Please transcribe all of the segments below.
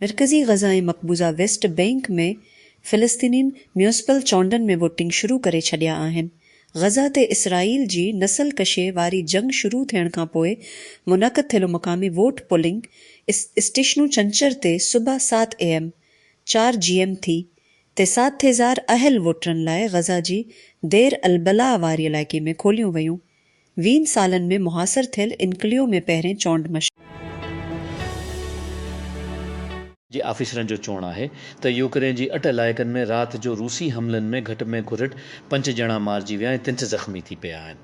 مرڪزي غزه ۽ مقبوضه West Bank ۾ فلسطينين ميونسپل چونڊن ۾ ووٽنگ شروع ڪري ڇڏيا آهن. غزه تي اسرائيل جي نسل ڪشي واري جنگ شروع ٿيڻ کان پوء منعقد ٿيل مقامي ووٽ پولنگ اسٽيشنون ڇنڇر تي صبح سات اي ايم، چار جي ايم ٿي تسعه هزار اهل ووٽرن لاء غزه جي دير البلاء واري علائقي ۾ کوليون ويون، ويهن سالن ۾ محاصر ٿيل انڪليو ۾ پهرين چونڊ مشق. جي آفيسرن جو چوڻ آهي ته يوڪرين جي اٺ علائقن ۾ رات جو روسي حملن ۾ گهٽ ۾ گهرٽ پنج ڄڻا مارجي ويا ۽ تنٺ زخمي ٿي پيا آهن.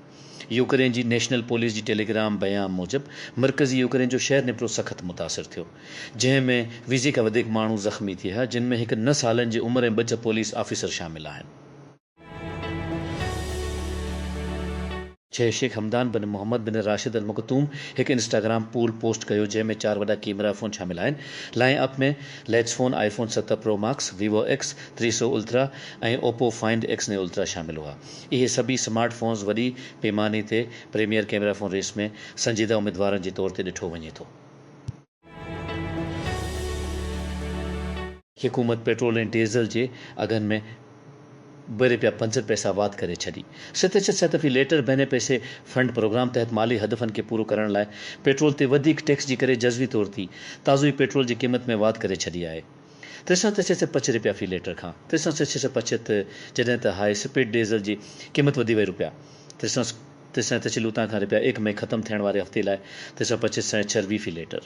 يوڪرين جي نيشنل پوليس جي ٽيليگرام بيان موجب مرڪزي يوڪرين جو شهر نپرو سخت متاثر ٿيو جنهن ۾ ويهه کان وڌيڪ ماڻهو زخمي ٿيا جن ۾ هڪ نه سالن جي عمر ۽ ٻه ڇهه پوليس آفيسر شامل آهن. ڇهه Sheikh Hamdan bin Mohammed bin Rashid Al Maktoum هڪ انسٽاگرام پول پوسٽ ڪيو جنهن ۾ چار وڏا ڪيمرا فون شامل آهن line up ۾ latest phone iPhone ست پرو ماڪس ويوو ايڪس ٽي سؤ الترا ۽ اوپو فائنڊ ايڪس نيو الترا شامل هئا. اهي سڀئي سمارٽ فونز وڏي پيماني تي پريميئر ڪيمرا فون ريس ۾ سنجيده اميدوارن جي طور تي ڏٺو وڃي ٿو. حڪومت پيٽرول ۽ ڊيزل جي اگهن ۾ به رپيا پنجهٺ پئسا واڌ ڪري ڇڏي. ستشت سيتفي ليٽر بهني پئسي فنڊ پروگرام تحت مالي هدفن کي پورو ڪرڻ لاء پيٽرول تي وڌيڪ ٽيڪس جي ڪري جزوي طور تي تازو ئي پيٽرول جي قيمت ۾ واڌ ڪري ڇڏي آهي. ٽي سؤ ڇهه سؤ پنچ رپيا في ليٽر کان ٽي سؤ ڇهه سؤ پنچ تھ جڏھن تھ ھاء سپيڊ ڊيزل جي قيمت وڌي وئي رپيا ٽي سؤ ٽي سؤ ڇهه لوطان کان رپيا ايڪ مئي ختم ٿيڻ واري ھفتي لاء ٽي سؤ پنچ سؤ ڇھه رپيا في ليٽر.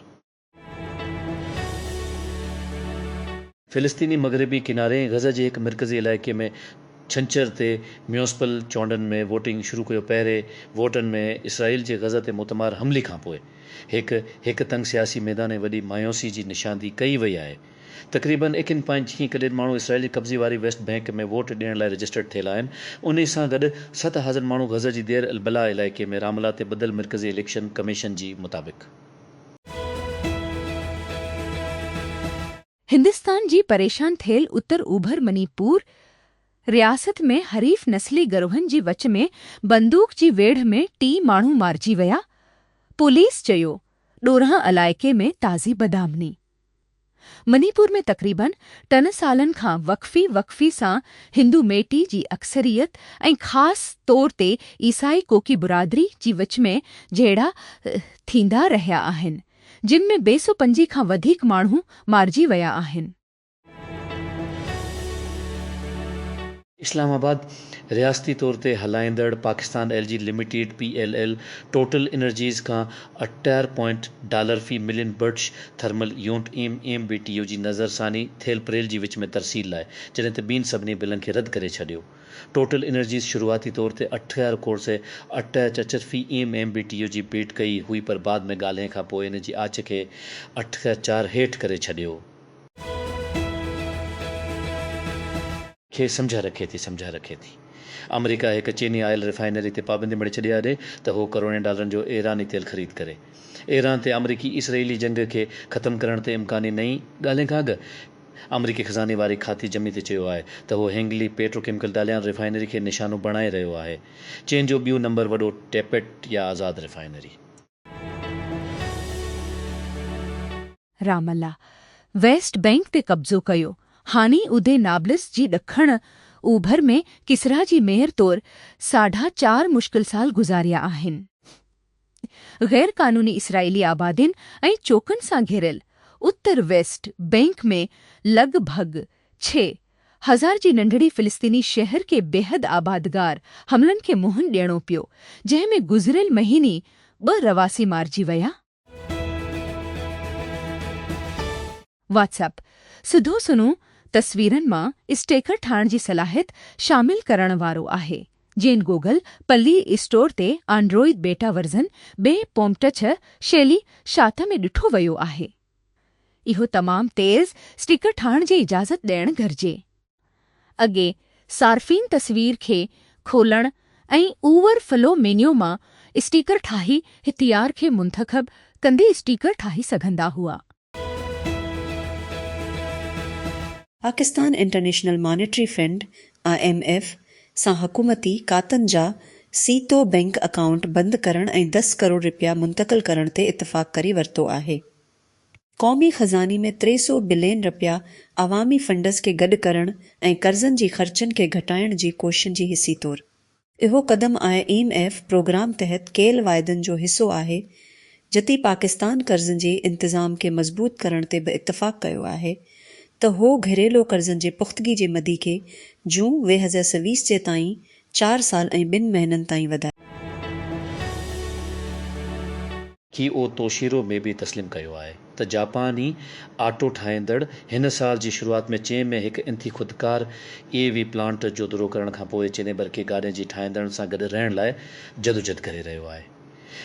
فلسطيني مغربي ڪناري ۽ غزه جي ھڪ مرڪزي علائقي ۾ ڇنڇر تي ميونسپل چونڊن ۾ ووٽنگ شروع ڪيو پهرين ووٽن ۾ اسرائيل جي غزه تي موتمار حملي کانپوء هڪ هڪ تنگ سياسي ميدان ۽ وڏي مايوسي جي نشاندهي ڪئي وئي آهي. تقريبن اڪين پوائنٽ جيئن ڪڏهن ماڻهو اسرائيلي قبضي واري ويسٽ بئنڪ ۾ ووٽ ڏيڻ لاء رجسٽرڊ ٿيل آهن انهي سان گڏ ست هزر ماڻهو غزه جي دير البلاح علائقي ۾ راملا تي ٻڌل مرڪزي اليڪشن ڪميشن جي مطابق. هندستان جي پريشان ٿيل اتر اوڀر مني پور رياست ۾ حريف نسلي گروهن جي وچ ۾ بندوق جي ويڙهه ۾ ٽي ماڻهو مارجي ويا، پوليس چيو ڏورانهن علائقي ۾ تازي بدامني. مني پور ۾ تقريبن ٽن سالن کان وقفي وقفي سان هندو ميٽي جي اڪثريت ۽ خاص طور تي عيسائي ڪوڪي برادري جي وچ ۾ جهيڙا ٿيندا رهيا آهن، جن ۾ بي سو پنجي کان وڌيڪ ماڻهو مارجي ويا آهن. اسلام آباد، رياستي طور تي هلائيندڙ Pakistan L G limited, P L L, Total Energies کان اٺٽيهه پوائنٽ ڊالر في million British thermal unit M M B T U جي نظرثاني ٿيل پريل جي وچ ۾ ترسيل لاء جڏهن ته ٻين سڀني بلن کي رد ڪري ڇڏيو. ٽوٽل انرجيز شروعاتي طور تي اٺ هزار کوڙ سي اٺ ايڇ اچ في M M B T U جي بيڊ ڪئي هئي پر بعد ۾ ڳالهين کان پوء ان جي آڇ کي اٺ هزار چار هيٺ ڪري ڇڏيو. کي سمجهه رکي ٿي سمجهه رکي ٿي آمريڪا هڪ چيني آئل ريفائنري تي پابندي مڙهي ڇڏي آڏي ته هو ڪروڙين ڊالرن جو ايراني تيل خريد ڪري ايران تي آمريڪي اسرئيلي جنگ کي ختم ڪرڻ تي امڪاني نئين ڳالهين کان اڳ آمريڪي خزاني واري کاتي جمي تي چيو آهي ته هو Hengli petrochemical Dalian refinery کي نشانو بڻائي رهيو آهي. چين جو ٻيو نمبر وڏو ٽيپيٽ يا آزاد refinery. Ramallah West Bank تي قبضو ڪيو، هاڻي ادي نابلس جي ڏکڻ اوڀر ۾ ڪسرا جي ميئر طور ساڍا چار مشڪل سال گذاريا آهن. غير قانوني اسرائيلي آبادين ۽ چوڪن سان گهيريل اتر ويسٽ بئنڪ ۾ لڳ ڀڳ ڇهه هزار جي ننڍڙي فلسطيني شهر کي بيحد آبادگار حملن کي منهن ڏيڻو پيو جنهن ۾ گذريل مهيني ٻه رهواسي مارجي ويا. واٽس اپ سڌو سنئون تصويرن مان اسٽيڪر ٺاهڻ جي صلاحيت شامل ڪرڻ وارو آهي، جنھن گوگل پلي اسٽور تي آنڊروئيڊ بيٽا ورزن ٻئي پومٽڇ شيلي شات ۾ ڏٺو ويو آهي. اهو تمام تيز اسٽيڪر ٺاهڻ جي اجازت ڏيڻ گهرجي. اڳي صارفين تصوير کي کولڻ ۽ اوور فلو مينيو مان اسٽيڪر ٺاهي هٿيار کي منتخب ڪندي اسٽيڪر ٺاهي سگهندا هئا. Pakistan international monetary fund, I M F, سان حڪومتي کاتن جا سيتو بئنڪ اڪائونٽ بند ڪرڻ ۽ دس ڪروڙ رپيا منتقل ڪرڻ تي اتفاق ڪري ورتو آهي. قومي خزاني ۾ ٽي سؤ بلين رپيا عوامي فنڊز کي گڏ ڪرڻ ۽ قرضن جي خرچن کي گهٽائڻ جي ڪوششن جي حصي طور. اهو قدم آء ايم ايف پروگرام تحت ڪيل واعدن جو حصو آهي، جتي پاڪستان قرضن جي انتظام کي مضبوط ڪرڻ تي به اتفاق ڪيو آهي ته هو گهريلو قرضن جي پختگي جي مدي کي جون ويهه هزار سويس جي تائين چار سال ۽ ٻن مهينن تائين وڌائي. ڪي او توشيرو مي به تسليم ڪيو آهي ته جاپاني آٽو ٺاهيندڙ هن سال جي شروعات ۾ چين ۾ هڪ انتھي خودڪار اي وي پلانٽ جو دورو ڪرڻ کان پوء چيني برقي گاڏين جي ٺاهيندڙن سان گڏ رهڻ لاء جدوجھد ڪري رهيو آهي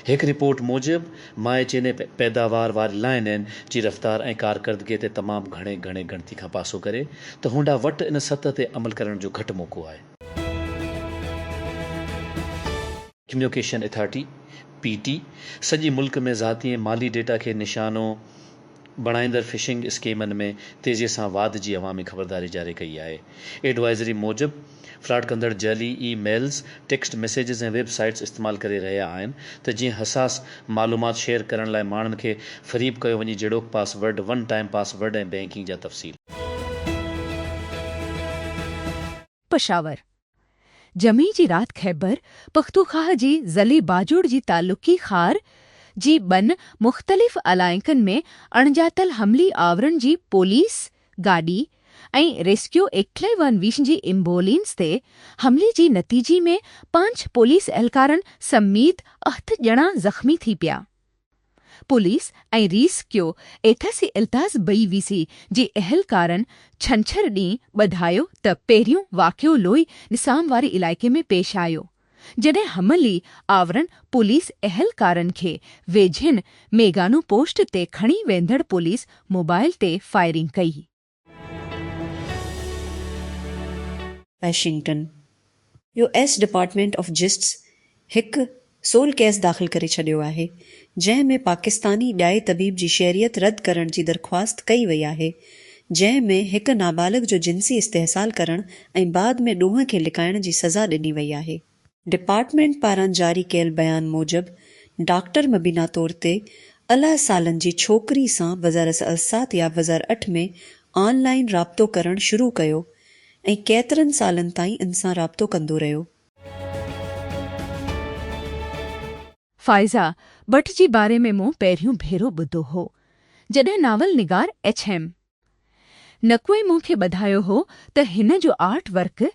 هڪ رپورٽ موجب مائي چيني پيداوار واري لائين ان جي رفتار ۽ ڪارڪردگي تي تمام گھڻي گھڻي ڳڻتي کان پاسو ڪري ته هونڊا وٽ ان سطح تي عمل ڪرڻ جو گھٽ موقعو آهي. ڪميوڪيشن اٿارٽي، پي ٽي، سڄي ملڪ ۾ ذاتي ۽ مالي ڊيٽا کي نشانو بڻائيندڙ فشنگ اسڪيمن ۾ تيزي سان واڌ جي عوامي خبرداري جاري ڪئي آهي. ايڊوائزري موجب، فراڊ ڪندڙ جعلي emails, text messages ۽ websites استعمال ڪري رهيا آهن ته جيئن حساس معلومات شيئر ڪرڻ لاء ماڻهن کي فريب ڪيو وڃي جهڙوڪ password, one time password ۽ banking جا تفصيل. پشاور، جمعي جي رات خيبر پختوخواه جي ضلعي باجوڙ جي تعلقي خار جي ٻن مختلف علائقن ۾ اڻڄاتل حملي آورن جي پوليس گاڏي ۽ ريسڪيو ايڪٽليون ويشن جي ايمبولينس تي حملي جي نتيجي ۾ پنج پوليس اهلڪارن سميت اھت ڄڻا زخمي ٿي پيا. پوليس ۽ ريس ڪيو ايٿا سي التاز بئي وي سي جي اهلڪارن ڇنڇر ڏينهن ٻڌايو ته پهريون واقعو لوئي نسام واري علائقي ۾ پيش آيو جڏهن حملي آورن پوليس اهلڪارن کي ويجهين ميگانو پوسٽ تي کڻي ويندڙ پوليس موبائل تي فائرنگ ڪئي. Washington, U S department of justice هڪ سول ڪيس داخل ڪري ڇڏيو آهي، جنهن ۾ پاڪستاني ڄائي طبيب جي شهريت رد ڪرڻ جي درخواست ڪئي وئي آهي، جنهن ۾ هڪ نابالغ جو جنسي استحصال ڪرڻ ۽ بعد ۾ ڏونهن کي لڪائڻ جي سزا ڏني وئي آهي. ڊپارٽمينٽ پاران جاري ڪيل بيان موجب ڊاڪٽر مبينا طور تي الهه سالن جي ڇوڪري سان وزارس السات يا وزار اٺ ۾ آن لائين رابطو ڪرڻ شروع ڪيو ۽ ڪيترن سالن تائين ان سان رابطو ڪندو رهيو. فائزه بٽ جي باري ۾ مون پهريون ڀيرو ٻڌو هو جڏهن ناول نگار ايڇ. ايم. نقوي مون کي ٻڌايو هو ته هن جو آرٽ ورڪ،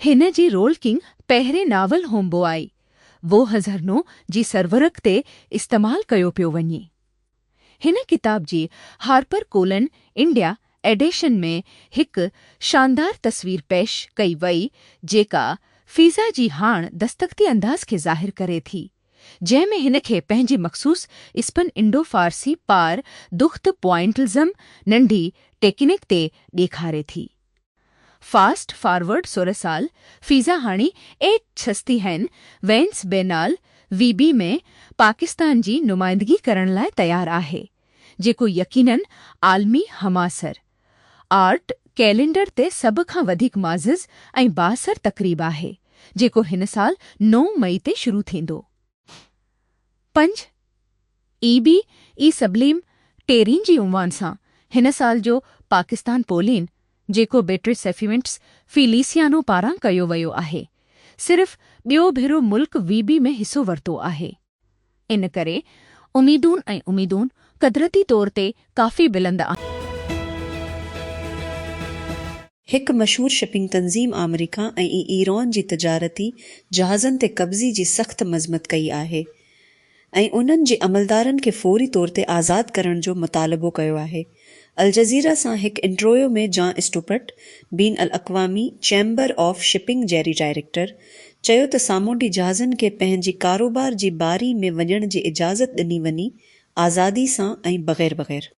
هن جي رول ڪنگ پهرين ناول هوم بوائي، وو هزرنو جي سرورق تي استعمال ڪيو پيو وڃي. هن ڪتاب جي هارپر ڪولن انڊيا ايڊيشن ۾ هڪ شاندار تصوير پيش ڪئي وئي جيڪا فيضا جي هاڻ دستخطي انداز کي ظاهر ڪري ٿي. جنهن ۾ هن کي پنهنجي مخصوص اسپن انڊو فارسي پار دخت پوائنٽلزم ننڍي ٽيڪنڪ تي ڏيکاري ٿي. فاسٽ فارورڊ سورهه سال فيزا هاڻي ايٽ ڇستي هين وينس بينال وي بي ۾ پاڪستان جي نمائندگي ڪرڻ لاء تيار آهي جيڪو يقينن عالمي همعصر آرٽ ڪئلينڊر تي سڀ کان وڌيڪ معزز ۽ بااثر تقريب آهي، جيڪو هن سال نو مئي تي شروع ٿيندو. پنج اي بي اي سبليم ٽيرين جي عنوان سان هن سال جو پاڪستان پولين، جيڪو بيٽرس سيفيونٽس فيليسيانو پاران ڪيو ويو آهي، صرف ٻيو ڀيرو ملڪ وي بي ۾ حصو ورتو آهي. ان ڪري اميدون ۽ اميدون قدرتي طور تي ڪافي بلند آهن. هڪ مشهور شپنگ تنظيم آمريڪا ۽ ايران جي تجارتي جهازن تي قبضي جي سخت مذمت ڪئي آهي ۽ انهن جي عملدارن کي فوري طور تي آزاد ڪرڻ جو مطالبو ڪيو آهي. الجزيره سان هڪ انٽرويو ۾ جان اسٽوپرٽ، بين الاقوامي چيمبر آف شپنگ جيري ڊائريڪٽر، چيو ته سامونڊي جهازن کي پنهنجي ڪاروبار جي باري ۾ وڃڻ جي اجازت ڏني وڃي، آزادي سان ۽ بغير بغير.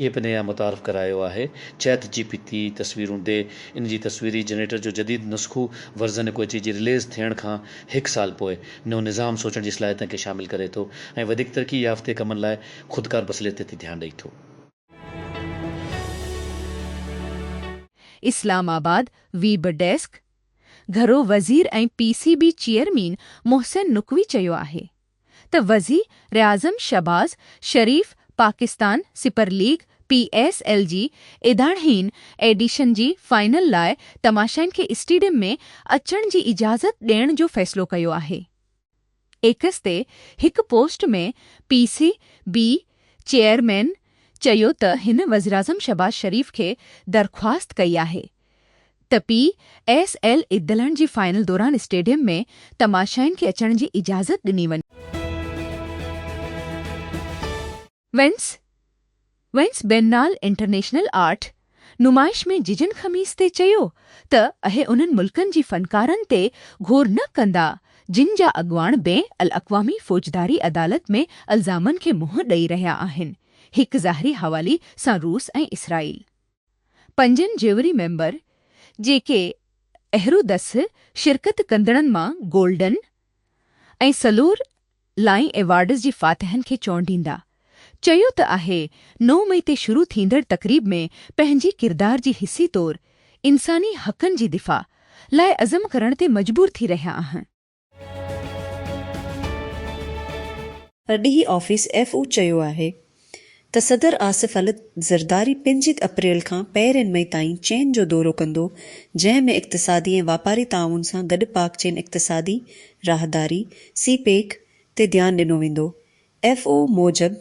ايپ نيا متعارف ڪرايو آهي چيٽ جي پي تي تصويرون ڏي ان جي تصويري جنريٽر جو جديد نسخو ورزن هڪ اچي جي رليز ٿيڻ کان هڪ سال پوء نيو نظام سوچڻ جي صلاحيتن کي شامل ڪري ٿو ۽ وڌيڪ ترقي يافته ڪمن لاء خودڪار بصليت تي ڌيان ڏئي ٿو. اسلام آباد، ويب ڊيسڪ، گهرو وزير ۽ P C B chairman Mohsin Naqvi چيو آهي ته وزيراعظم Shehbaz Sharif Pakistan super league, P S L, جي ايڌاڻهين ايڊيشن جي فائنل لاء تماشائين کي اسٽيڊيم ۾ اچڻ جي اجازت ڏيڻ جو فيصلو ڪيو آهي. ايڪس تي هڪ post ۾ P C B chairman چيو ته هن وزيراعظم شهباز شريف کي درخواست ڪئي آهي ته پي ايس ايل ادلڻ جي فائنل دوران اسٽيڊيم ۾ تماشائين کي اچڻ جي اجازت ڏني وڃي. Venice, Vence Biennale International Art، نمائش ۾ ججن خميس تي چيو ته اهي انهن ملڪن جي فنڪارن تي گهور نه ڪندا جن جا اڳواڻ بين الاقوامي فوجداري عدالت ۾ الزامن کي منهن ڏئي رهيا آهن، هڪ ظاهري حوالي سان روس ۽ اسرائيل. پنجن جيوري ميمبر جيڪي اهرو دس شرڪت ڪندڙن مان گولڊن ۽ سلور لائين ايوارڊز جي فاتحن کي چونڊيندا. چيو ته آهي نو مئي تي شروع ٿيندڙ تقريب ۾ پنهنجي ڪردار جي حصي طور انساني حقن جي دفاع لاء عزم ڪرڻ تي مجبور ٿي رهيا آهن. ڏينهن آفيس ايف او چيو آهي ته صدر آصف علي زرداري پنج اپريل کان پهرين مئي تائين چين جو دورو ڪندو جنهن ۾ اقتصادي ۽ واپاري تعاون سان گڏ پاڪ چين اقتصادي راهداري، سي پيڪ، تي ڌيان ڏنو ويندو. ايف او موجب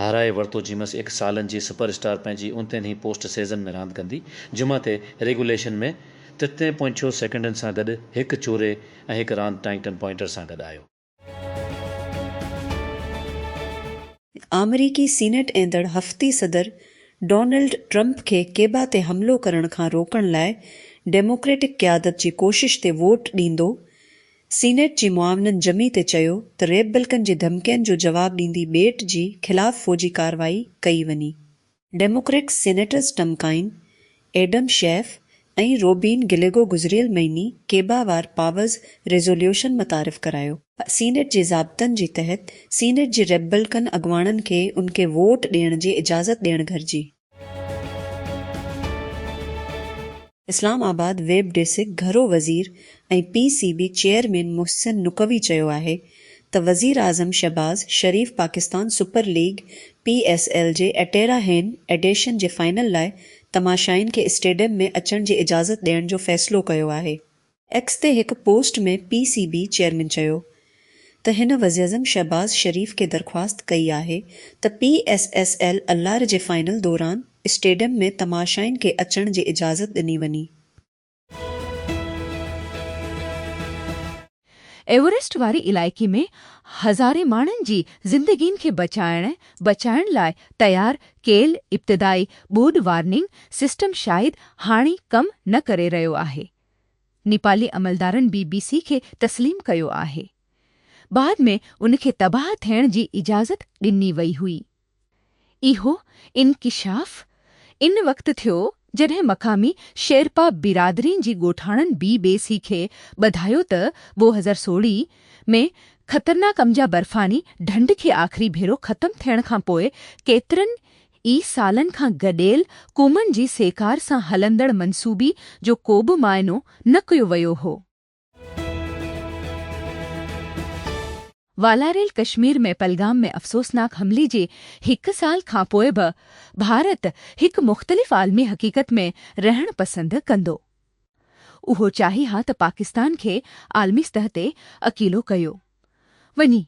هارائي ورتو جيمس ايڪ سالن جي سپر اسٽار پنهنجي اوندتين هي پوسٽ سيزن ۾ راند ڪندي جمعه تي ريگوليشن ۾ ترتين پوائنٽ ڇهه سيڪنڊن سان گڏ هڪ چوري ۽ هڪ راند ٽائنگٽن پوائنٽر سان گڏ آيو. آمريڪي سينيٽ ايندڙ هفتي صدر ڊونلڊ ٽرمپ کي ڪيبا تي حملو ڪرڻ کان روڪڻ لاء ڊيموڪريٽڪ قيادت جي ڪوشش تي ووٽ ڏيندو، سينيٽ جي معاونن جمي تي چيو ته ريپبلڪن جي ڌمڪين جو جواب ڏيندي ٻيٽ جي خلاف فوجي ڪارروائي ڪئي وڃي. Democrat senators Tim Kaine, Adam Schiff ۽ Ruben Gallego گذريل مهيني ڪيبا وار پاورز ريزوليوشن متعارف ڪرايو. سينيٽ جي ضابطن جي تحت سينيٽ جي ريپبلڪن اڳواڻن کي ان کي ووٽ ڏيڻ جي اجازت ڏيڻ گهرجي. اسلام آباد، ويب ڊيسڪ، گهرو وزير ۽ P C B chairman Mohsin Naqvi چيو آهي ته وزيراعظم Shehbaz Sharif Pakistan super league, P S L, جي اٽيرا هين ايڊيشن جي فائنل لاء تماشائين کي اسٽيڊيم ۾ اچڻ جي اجازت ڏيڻ جو فيصلو ڪيو آهي. ايڪس تي هڪ post ۾ P C B chairman چيو ته هن وزيراعظم شهباز شريف کي درخواست ڪئي آهي ته پي ايس ايس ايل الار جي فائنل دوران اسٽيڊيم ۾ تماشائين کي اچڻ جي اجازت ڏني وڃي. ايوريسٽ واري علائقي ۾ هزارين ماڻهن جي زندگين کي بچائڻ بچائڻ لاء تيار ڪيل ابتدائي ٻوڏ وارننگ سسٽم شايد هاڻي ڪم نه ڪري رهيو آهي. نيپالي عملدارن بي بي سي کي تسليم ڪيو آهي. بعد ۾ ان کي تباهه ٿيڻ جي اجازت ڏني وئي هئي. اهو انڪشاف ان وقت ٿيو جڏهن مقامي شيرپا برادرين جي ڳوٺاڻن بي بي سي کي ٻڌايو ته ٻه هزار سوڙهي ۾ خطرناڪ امجا برفاني ڍنڍ کي آخري ڀيرو ختم ٿيڻ کان پوء ڪيترن ئي سالن کان گڏيل قومن جي سهڪار سان هلندڙ منصوبي جو ڪوبه معائنو نه ڪيو ويو هو. والاريل ڪشمير ۾ پلگام ۾ افسوسناڪ حملي جي هڪ سال کانپوء به ڀارت هڪ مختلف عالمي حقيقت ۾ رهڻ پسند ڪندو. اهو چاهي ها ته پاڪستان کي عالمي سطح تي اڪيلو ڪيو وڃي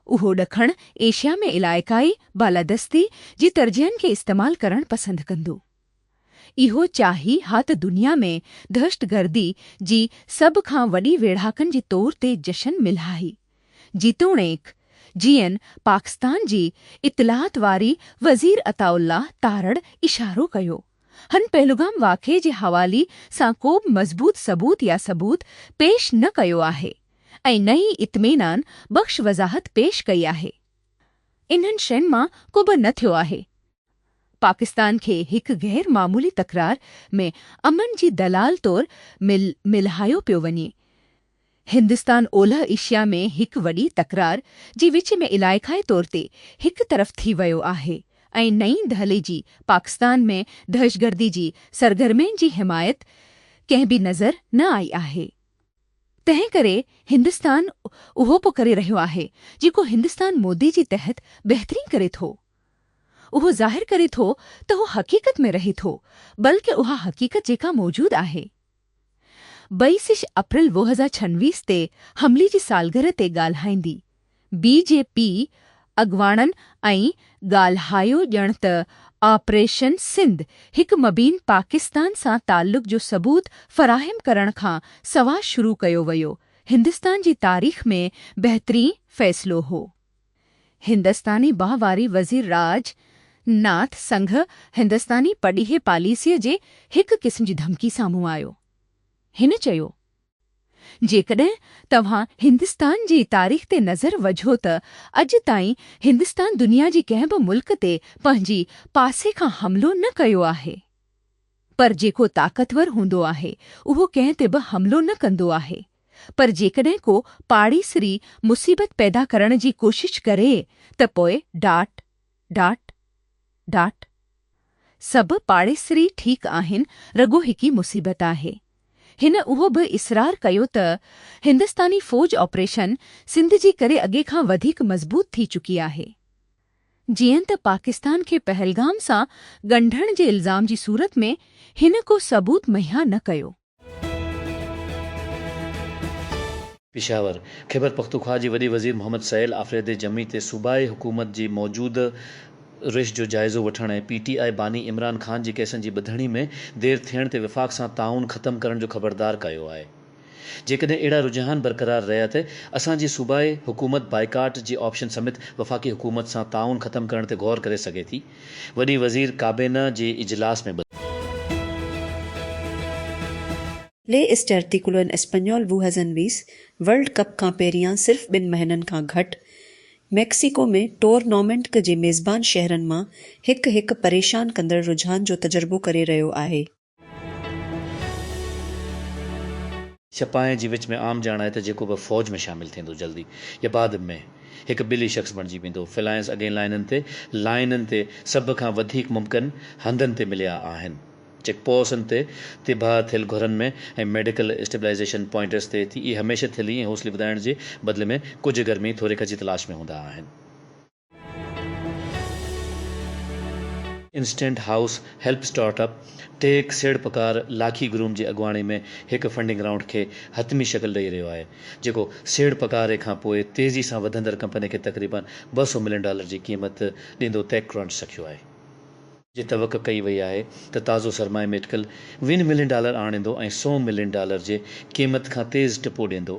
اهو ڏکڻ ايشيا ۾ علائقائي بالادستي جي ترجيحن کي استعمال ڪرڻ پسند ڪندو. اهو چاهي ها ته دنيا ۾ دهشتگردي جي سڀ کان وڏي ويڙهاڪن جي طور تي جشن ملهائي، جيتوڻيڪ جيئن پاڪستان جي اطلاعات واري وزير عطاء الله تارڙ اشارو ڪيو. هن پهلگام واقعي جي حوالي سان ڪو به مضبوط ثبوت يا ثبوت پيش نه ڪيو آهي ۽ نه ئي اطمينان بخش وضاحت پيش ڪئي آهي. انهن شين مان ڪوبه نه ٿيو آهي. پاڪستان کي هڪ غير معمولي تڪرار ۾ امن جي دلال طور ملهايو پيو وڃي. هندستان اولهه ايشيا ۾ هڪ وڏي تڪرار جي وچ ۾ علائقائي طور تي هڪ طرف ٿي ويو آهي ۽ نئين دهلي جي پاڪستان ۾ دهشگردي جي سرگرمين جي حمايت ڪنهن به نظر نه آئي آهي تنهن ڪري هندستان اهو پ ڪري رهيو آهي جيڪو هندستان مودي جي تحت بهترين ڪري ٿو اهو ظاهر ڪري ٿو ته هو حقيقت ۾ رهي ٿو بلڪ اها حقيقت جيڪا موجود آهي. ٻئي سش اپريل ووهه هزار ڇنويس تي حملي جي سالگرهه تي ڳالهائيندي بي جي پي اڳواڻن ۽ ڳالهايو ڄڻ ته آپريشن سنڌ هڪ مبين پاڪستان سان تعلق جو ثبوت فراهم ڪرڻ کان سواء شروع ڪيو ويو هندستان جي تاريخ ۾ بهترين فيصلو هو. هندستاني بانهه واري وزير راج ناٿ سنگهه هندستاني پرڏيهي پاليسيء جي هڪ قسم جي ڌمڪي سامهون آيو. هن چيو، جيڪڏهن توهان هندستان جي تاريخ تي نظر وجهو ته اڄ تائين هندستان دنيا جي ڪنهن به ملڪ تي پنهنجي پاسي کان حملو نه ڪيو آهي. پر جيڪو طاقتور هوندو آهي، اهو ڪنهن تي به حملو نه ڪندو آهي. پر جيڪڏهن ڪو پاڙيسري مصيبت پيدا ڪرڻ جي ڪوشش ڪري ته پوء ڊاٽ، ڊاٽ، ڊاٽ. سڀ پاڙيسري ٺيڪ آهن، رڳو هڪ ئي مصيبت آهي. هن اهو به اصرار ڪيو ته هندستاني فوج آپريشن سنڌ جي ڪري اڳي کان وڌيڪ مضبوط ٿي چڪي آهي. جيئن ته پاڪستان کي پهلگام سان ڳنڍڻ جي الزام جي صورت ۾ هن ڪو ثبوت مهيا نه ڪيو. پشاور، خيبرپختونخوا جي وڏي وزير محمد سهيل آفريدي جمعي تي صوبائي حڪومت جي موجوده روش جو جائزو وٺڻ ۽ پي ٽي آء باني عمران خان جي ڪيسن جي ٻڌڻي ۾ دير ٿيڻ تي وفاق سان تعاون ختم ڪرڻ جو خبردار ڪيو آهي. جيڪڏهن اهڙا رجحان برقرار رهيا ته اسان جي صوبائي حڪومت بائيڪاٽ جي آپشن سميت وفاقي حڪومت سان تعاون ختم ڪرڻ تي غور ڪري سگهي ٿي، وڏي وزير ڪابينا جي اجلاس ۾ ٻڌايو. لي اسٽيرتيڪولو ان اسپنيول ووهزن ويس ورلڊ ڪپ کان پهريان صرف ٻن مهينن کان گهٽ ميڪسيڪو ۾ ٽورنامينٽ جي ميزبان شهرن مان هڪ هڪ پريشان ڪندڙ رجحان جو تجربو ڪري رهيو آهي. سپاهين جي وچ ۾ عام ڄاڻ آهي ته جيڪو به فوج ۾ شامل ٿيندو جلدي يا بعد م هڪ ٻلي شخص بڻجي ويندو. فلائنس اڳين لائنن تي، Line، تي سڀ کان وڌيڪ ممڪن هنڌن تي مليا آهن. چيڪ پوسن تي، تباهه ٿيل گهرن ۾ ۽ ميڊيڪل اسٽيبلائيزيشن پوائنٽس تي تي اهي هميشه ٿلهي ۽ حوصلي وڌائڻ جي بدلي ۾ ڪجهه گرمي ٿوريڪ جي تلاش ۾ هوندا آهن. Instant house help startup tech سيڙپڪار لاکي گروم جي اڳواڻي ۾ هڪ فنڊنگ رائونڊ کي حتمي شڪل ڏئي رهيو آهي، جيڪو سيڙپڪاري کان پوء تيزي سان وڌندڙ ڪمپني کي تقريبن ٻه سؤ ملين ڊالر جي قيمت ڏيندو تيڪ ڪرنچ سکيو آهي. جي توقع ڪئي وئي آهي ته تازو سرمايه ميٽڪل وين ملين ڊالر آڻيندو ۽ سؤ ملين ڊالر جي قيمت کان تيز ٽپو ڏيندو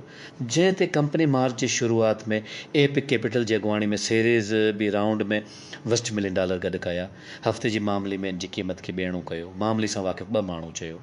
جنهن تي ڪمپني مارچ جي شروعات ۾ ايپڪ ڪيپيٽل جي اڳواڻي ۾ سيريز بي رائونڊ ۾ وسٽ ملين ڊالر گڏ ڪيا هفتي جي معاملي ۾ ان جي قيمت کي ٻيڻو ڪيو معاملي سان واقف ٻه ماڻهو چيو